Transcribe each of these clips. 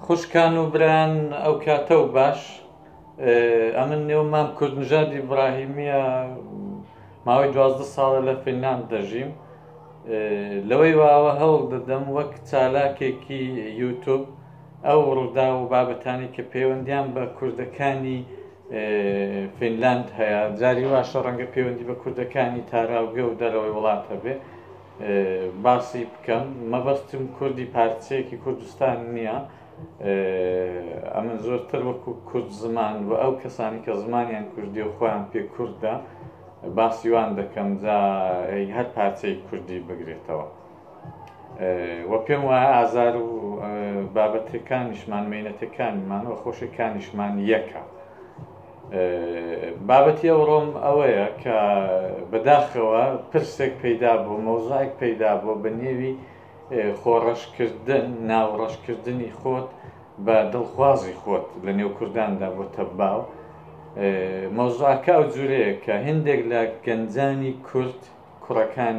خوشکان و بران ئەو کاتە و باش ئەمن نێو مام کورد نژاد ئیبراهیمیە ماوەی دوازدە ساڵە لە فنلاند دەژیم لەوەی واوە هەوڵ دەدەم وەک چالاکێکی یوتوب ئەو ڕوودا و بابەتانی کە پەیوەندیان بە کوردەکانی فینلاند هەیە جاری واشە ڕەنگە پەیوەندی بە کوردەکانی تاراوگە و دەرەوەی وڵات هەبێ باسی بکەم مەبەستم کوردی پارچەیەکی کوردستان نییە ئەمن زۆرتر وەکو کورد زمان و ئەو کەسانی کە زمانیان کوردی و خۆیان پێ کوردە باسیوان دەکەم جا هەر پارچەی کوردی بگرێتەوە و پێم وایە ئازار و بابەتەکانیشمان مینەتەکانمان و خۆشەکانیشمان یەکە بابەتی ئەوڕۆم ئەوەیە کە بەداخەوە پرسێک پەیدا بوو مۆزایک پەیدا بوو بە نێوی خۆڕەشکردن ناوڕەشکردنی خۆت بە دڵخوازی خۆت لە نێو کورداندا بۆ تەباو مۆزاکە ئەو جورەیە کە هندێک لە گەنجانی کورد کوڕەکان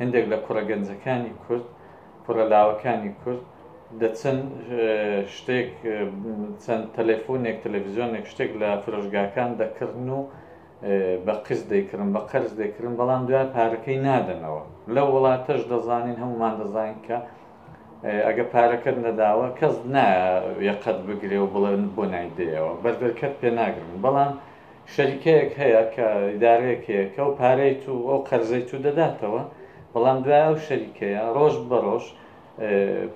هندێک لە کوڕە گەنجەکانی کورد کوڕە لاوەکانی کورد دە چەند شتێک چەند تەلەفۆنێک تەلەڤزیۆنێک شتێک لە فرۆشگاکان دەکردن و بە قست دەیکردن بە قەرز دەکردن بەڵام دوای پارەکەی نادەنەوە لە وڵاتەش دەزانین هەمومان دەزانین کە ئەگە پارەکەت نەداوە کەس نایەقەت بگرێ و بڵێن بۆ نایدەیەوە بەردەرکەت پێ ناگرن بەڵام شەریکەیەک هەیە کە ئیدارەیەک هەیە کە ئەو پارەی تو ئەو قەرزەی تو دەداتەوە بەڵام دوای ئەو شەریکەیە ڕۆژ بە ڕۆژ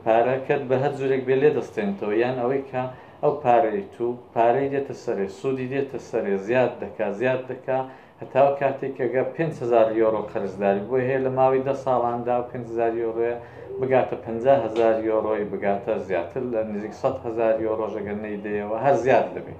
پارەکەت بە هەر جورێک بێ لێ دەستێنتەوە یان ئەوەی کە ئەو پارەی تو پارەی دێتە سەرێ سوودی دێتە سەرێ زیاد دەکا زیاد دەکا هەتاو کاتێک کەگە 500 یۆرۆ قەرزداری بۆ هەیە لە ماوەی دە ساڵاندا و 500 یۆرۆە بگاتە 500هزار یۆرۆی بگاتە زیاتر لە نزیک 100هزار یۆرۆژەگەر نەیدەیەوە هەر زیاد دەبێت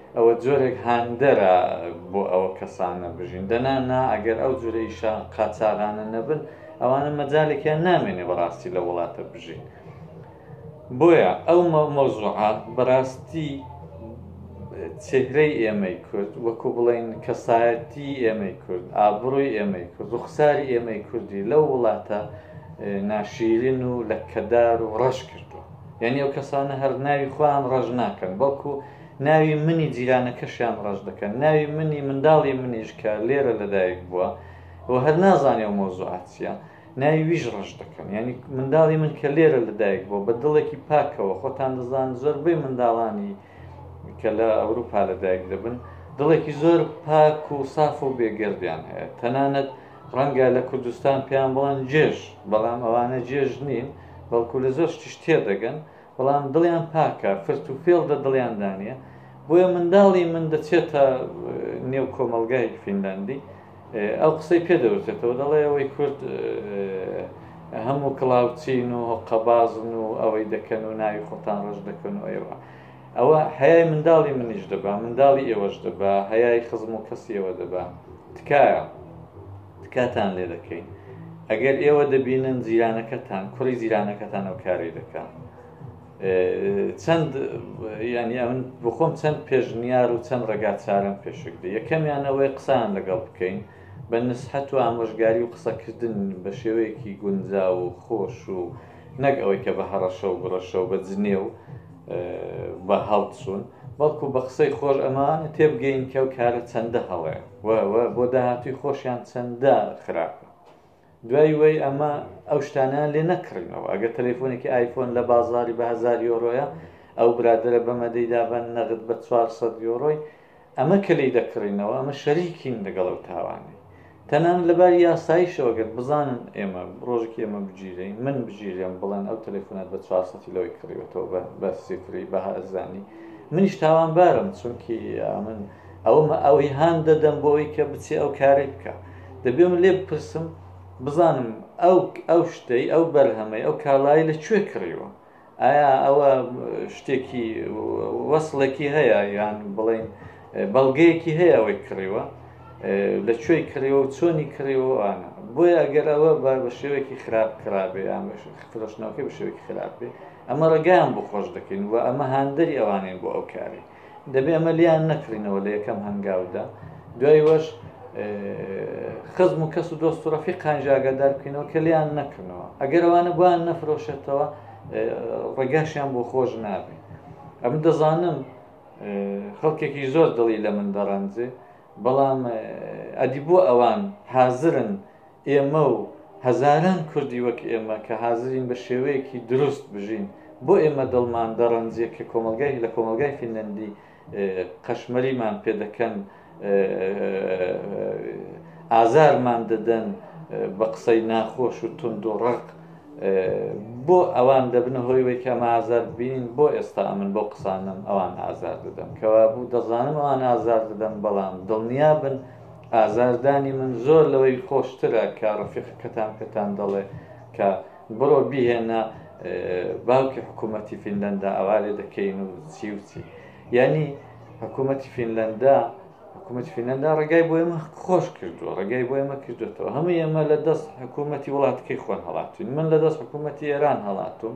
ئەوە جۆرێک هاندەرە بۆ ئەوە کەسانە بژین دەنا نا ئەگەر ئەو جورە ئیشە قاچاغانە نەبن ئەوانە مەجالێکیان نامێنێ بەڕاستی لە وڵاتە بژین بۆیە ئەو مەوزوعە بەڕاستی چهرەی ئێمەی کورد وەکو بڵین کەسایەتی ئێمەی کورد ئابڕۆی ئێمەی کورد ڕوخساری ئێمەی کوردی لەو وڵاتە ناشیرین و لە کەدار و ڕەش کردووە یعنی ئەو کەسانە هەر ناوی خۆیان ڕەش ناکەن بەڵکو ناوی منی جیرانەکەشیان ڕەش دەکەن، ناوی منی منداڵی منیش کە لێرە لەدایک بووە و هەر نازانێ ئەو مەوزوعە چییە، ناوی ویش ڕەش دەکەن. یانی منداڵی من کە لێرە لەدایک بووە، بە دڵێکی پاکەوە، خۆتان دەزانن زۆربەی منداڵانی کە لە ئەوروپا لەدایک دەبن، دڵێکی زۆر پاک و ساف و بێگەردیان هەیە. تەنانەت ڕەنگە لە کوردستان پێیان بڵێن جێژ، بەڵام ئەوانە جێژ نین، بەڵکو لە زۆر شتیش تێدەگەن، بەڵام دڵیان پاکە فرت و فێڵ دە دڵیان دانە بۆیە منداڵی من دەچێتە نێو کۆمەلگای فینلاندی ئەو قسەی پێ دەوتێتەوە دەڵێ ئەوەی کورد هەموو کڵاوچین و قەبازن و ئەوەی دەکەن و ناوی خۆتان ڕژ دەکەن و ئێوە ئەوە هەیە منداڵی منیش دەبا منداڵی ئێوەش دەبا هەیای خزم و کەسیەوە دەبا تکایە تکاتان لێ دەکەین ئەگەر ئێوە دەبینن جیرانەکەتان کوڕی جیرانەکەتان ئەو کاری دەکە چەند ینی ئەمن بخۆم چەند پێشنیار و چەند ڕێگا چارم پێشکدە یەکەمیانەوەی قسان لەگەڵ بکەین بە نسحەت و ئامۆژگاری و قسەکردن بە شێوەیەکی گونجا و خۆش و نەک ئەوەی کە بە هەڕەشە و گڕەشە و بە جنێو بە هەڵچوون، بەڵکو بە قسەی خۆش ئەمانە تێبگەین کە ئەو کارە چەندە هەڵەیە و و بۆ داهاتووی خۆشیان چەندە خراپە. دوای وەی ئەمە ئەو شتانەیان لێ نەکڕینەوە. ئەگەر تەلەفۆنێکی ئایفۆن لە بازاڕی بە هەزار یۆرۆیە، ئەو برادەرە بەمە دەیدا بە نەغد بە چوار سەد یۆرۆی، ئەمە کە لێی دەکڕینەوە ئەمە شەریکین لەگەڵ ئەو تاوانەی تەنان لەباری یاساییشەوەگەر بزانن ئێمە ڕۆژێکی ئێمە بگیرین من بگیرێم بڵێن ئەو تەلەفۆنات بە چوار سەتی لەوەی کڕیوەتەوە بە بە سفری بە هەرزانی منیش تاوانبارم چونکی من ئەوم ئەوەی هان دەدەم بۆ ئەوی کە بچێ ئەو کاری بکە دەبێ من لێ بپرسم بزانم ئەو ئەو شتەی ئەو بەرهەمەی ئەو کاڵایی لە کوێ کڕیوە ئایا ئەوە شتێکی وەصلێکی هەیە یان بڵین بەڵگەیەکی هەیە ئەوەی کڕیوە لە کوێی کڕیەوە و چۆنی کڕیەوەوانە بۆیە ئەگەر ئەوە بە بە شێوەیەکی خراپ خراپێ ئامش فرۆشتنەوەکە بە شێوەیەکی خراپێ ئەمە ڕێگەیان بۆ خۆش دەکەین و ئەمە هاندەری ئەوانین بۆ ئەو کارێک دەبێ ئەمە لیان نەکڕینەوە لە یەکەم هەنگاودا دوای وەش خزم و کەس و دۆست و ڕەفی قانجاگەدار بکەینەوە کە لیان نەکردنەوە ئەگەر ئەوانە بوان نەفرۆشێتەوە ڕێگاشیان بۆ خۆش نابێت ئەم دەزانم خەڵکێکی زۆر دڵی لە من دەڕەنجێ بەڵام ئەدی بۆ ئەوان حازرن ئێمە و هەزاران کوردی وەک ئێمە کە حازرین بە شێوەیەکی دروست بژین، بۆ ئێمە دڵمان دەڕەنجێ کە کۆمەڵگای لە کۆمەڵگای فینلەندی قەشمەریمان پێ دەکەن، ئازارمان دەدەن بە قسەی ناخۆش و توند و ڕەق، بۆ ئەوان دەبنە هۆی ئەوەی کە ئەمە ئازار ببینین، بۆ ئێستا ئەمن بەو قسانەم ئەوان ئازار دەدەم، کەوابوو دەزانم ئەوان ئازار دەدەم، بەڵام دڵنیا بن، ئازاردانی من زۆر لەوەی خۆشترە کە ڕەفیقەکەتان پێتان دەڵێ کە بڕۆ بیهێنە باوکی حکوومەتی فینلەندا ئەوا لێ دەکەین و چی و چی یعنی حکوومەتی فینلەندا حکوومەت فینەندا ڕێگای بۆ ئێمە خۆش کردووە ڕێگای بۆ ئێمە کردوێتەوە هەموو ئێمە لە دەست حکوومەتی وڵاتەکەی خۆن هەڵاتوین من لە دەست حکوومەتی ئێران هەڵاتوم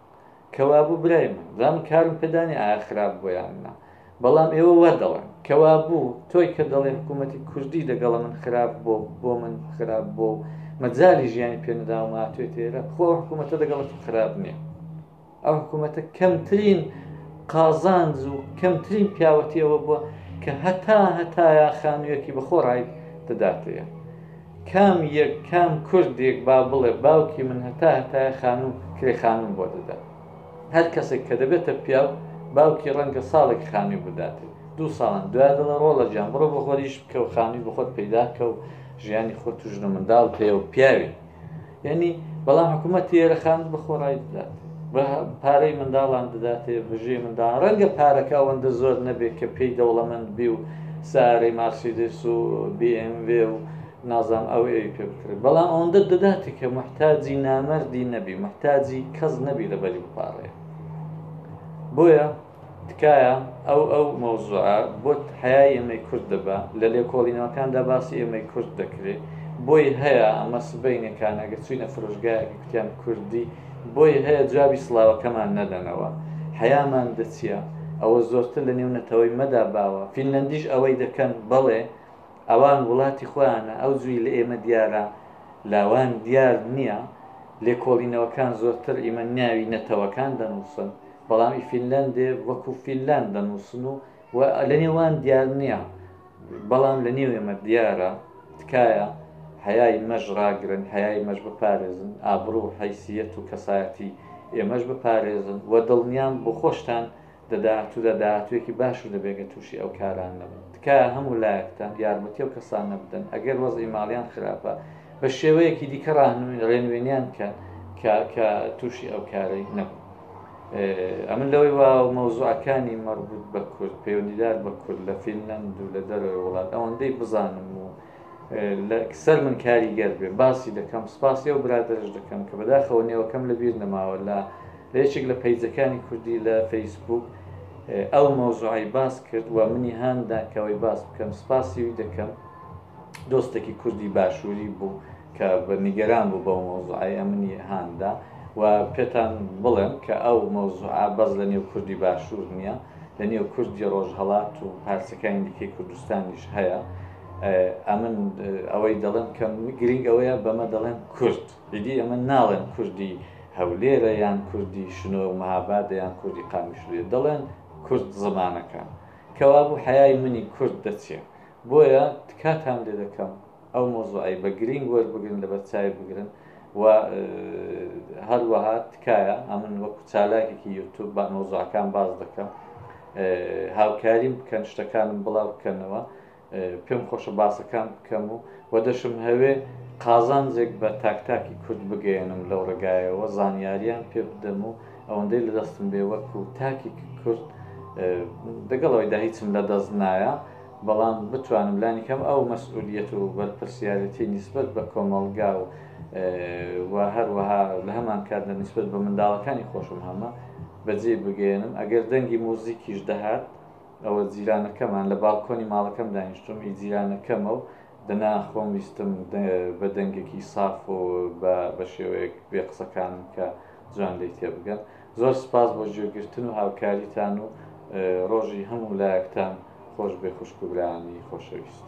کەوابوو برای من دام کارم پێدانی ئایا خراپ بۆ یان نا بەڵام ئێوە وا دەڵێن کەوابوو تۆی کە دەڵێ حکوومەتی کوردی دەگەڵە من خراپ بۆ بۆ من خراپ بۆ مەجای ژیانی پێنەداوما توێ تێرە خۆ حکوومەتە دەگەڵت خراپ نییە ئەو حکوومەتە کەمترین قازانج و کەمترین پیاوەتیەوە بووە کە هەتا هەتایە خانوویەکی بەخۆڕای دەداتەیە کام یەک کام کوردێک با بڵێ باوکی من هەتا هەتایە خانوو کرێ خانووم بۆ دەدا هەر کەسێک کە دەبێتە پیاو باوکی ڕەنگە ساڵێک خانووی بدات دوو ساڵان دوای دڵە ڕۆڵە جان بڕۆ بۆ خۆریش بکە و خانووی بخۆت پەیداکە و ژیانی خۆت و ژنە منداڵ پێ و پیاوی یعنی بەڵام حکوومەت تێرە خان بەخۆڕای بدات بە پارەی منداڵان دەداتێ بژێ منداڵ ڕەنگە پارەکە ئەوەندە زۆر نەبێت کە پێی دەوڵەمەند بی و سارەی مارسیدس و BMV و نازام ئەو ئەوی پێ بکرێت بەڵام ئەوەندە دەداتێ کە محتاجی نامەردی نەبی محتاجی کەس نەبی لەبەری بپارڕێ بۆیە تکایە ئەو ئەو مەوزوعە بۆت حەیای ئێمەی کورد دەبا لە لێکۆڵینەوەکاندا باسی ئێمەی کورد دەکرێ بۆی هەیە ئەمە سبەینێ کانەگە چوینە فرۆشگایەکی کوتیان کوردی بۆی هەیە جوابی سڵاوەکەمان نەدەنەوە حەیامان دەچیە ئەوە زۆرتر لە نێو نەتەوەی مەدا باوە فینلەندیش ئەوەی دەکەن بەڵێ ئەوان وڵاتی خۆیانە ئەو جوی لە ئێمە دیارە لاوان دیار نییە لێکۆڵینەوەکان زۆرتر ئیمە ناوی نەتەوەکان دەنووسن بەڵامی فینلندێ وەکو فینلند دەنووسن و و لە نێوان دیار نییە بەڵام لە نێو ئێمە دیارە تکایە حیای مەژ ڕاگرن حیای مەش بپارێزن ئابروو و حیسیەت و کەسایەتی ئێمەش بپارێزن و دڵنیام بۆ خۆشتان دەدات و دەداتوێکی باش و دەبێگە تووشی ئەو کاران نەبن تکایە هەموو لایەکتان یارمەتی و کەسان نەبدەن ئەگەر وەزی ماڵیان خراپە بە شێوەیەکی دیکە ڕاهنوین ڕێنوێنیان کە کە تووشی ئەو کارەی نەبن ئەمن لەوەی وا مەوزوعەکانی مەربوط بە کورد پەیوەندیدار بە کورد لە فینلند و لە دەرەوەی وڵات ئەوەندەی بزانم و لەکسەر من کاریگەر بێ باسی دەکەم سپاسی و برادرش دەکەم کە بەداخەوە نێوەکەم لە بیر نەماوە لە لە یەکێک لە پەیجەکانی کوردی لە فەیسبوک ئەو مەوزوعی باس کرد و منی هاندا کەەوەی باس بکەم سپاسی وی دەکەم دۆستێکی کوردی باشووری بوو کە بە نیگەران بوو بەو مۆزوعایە منی هاندا و پێتان بڵێم کە ئەو مۆزوعە بەس لە نێو کوردی باشوور نییە لە نێو کوردی ڕۆژهڵات و پارچەکانی دیکەی کوردستانیش هەیە ئەمن ئەوەی دەڵێم کە گرنگ ئەوەیە بەمە دەڵێن کورد دیدی ئەمە ناڵێن کوردی هەولێرە یان کوردی شنۆ و مەهابادە یان کوردی قامیشلێ دەڵێن کورد زمانەکان کەوابوو حیای منی کورد دەچێت بۆیە تکاتان لێ دەکەم ئەو مەوزوعەی بە گرینگ وەربگرن لەبەرچاوی بگرن و هەروەها تکایە ئەمن وەکو چالاکێکی یوتوب با مەوزوعەکان باز دەکەم هاوکاریم بکەن شتەکانم بڵاو بکەنەوە پێم خۆشە باسەکان بکەم و وە دەشم هەوێ قازانجێک بە تاکتاکی کورد بگەێنم لەو ڕێگایەوە زانیاریان پێ بدەم و ئەوەندەی لە دەستم بێ وەکو تاکی کورد دەگەڵەوەی دا هیچم لە دەست نایە بەڵام بتوانم لانیکەم ئەو مەسئولیەت و بەرپرسیارێتی نیسبەت بە کۆمەڵگا و و هەروەها لە هەمان کاتدا نیسبەت بە منداڵەکانی خۆشم هەمە بەجێی بگەیەنم ئەگەر دەنگی موزیکیش دەهات ئەوە جیرانەکەمان لە باڵکۆنی ماڵەکەم دانیشتوم ئی جیرانەکەمە و دەنا خۆم ویستم بە دەنگێکی ساف و بە بە شێوەیەک بێ قسەکانم کە جوان لێی تێبگەن. زۆر سپاس بۆ گوێگرتن و هاوکاریتان و ڕۆژی هەموو لایەکتان خۆش بێ خوشک و برایانی خۆشەویست.